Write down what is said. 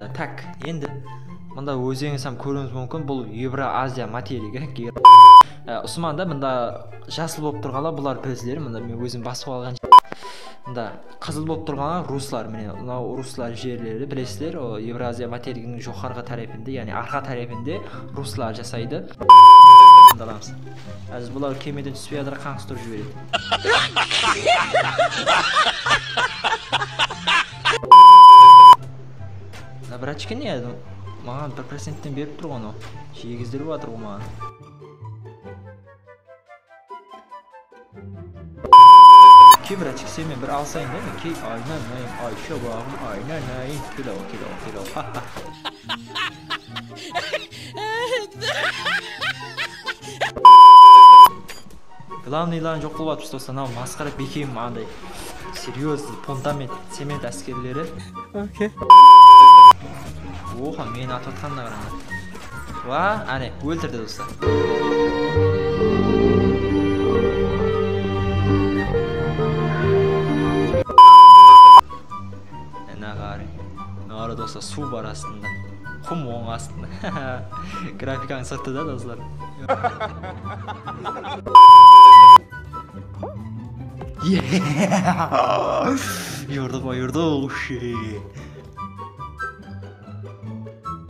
Tak, endi mında ózińiz hám kóriwiniz múmkin bul Evro Aziya materigi ekan. Usman da mında jasıl bolıp turǵanlar bular prezleri mında men ózim basıp alǵan mında qızıl bolıp turǵanlar ruslar mine mınau ruslar jerleri bilesizler Evro Aziya materiginiń joqarǵı tárepinde yaǵnıy arqa tárepinde ruslar jasaydı mındalamız házir bular kemeden túspey atır qańsıtırıp jiberedi. Da vrachka ne edi maǵan bir procentten berip turǵan ǵo jiegizdirip atır ǵo maǵan. Kim vrachka sen men bir alısayın da mineke aynanayım ay shabagım aynanayın kelaǵo kelaǵo kelaǵo ha ha. Glawniy ilanı joq bolıp atpız doslar mınau masqara bekem anday seryozniy puntament cement áskerleri okey oxa meni atıp atqanına qarańlar wa áne óltirdi doslar Ina qarıń, mınalarda bolsa suw bar astında, qum oń astında, ha-ha, grafikańız sırtı da doslar.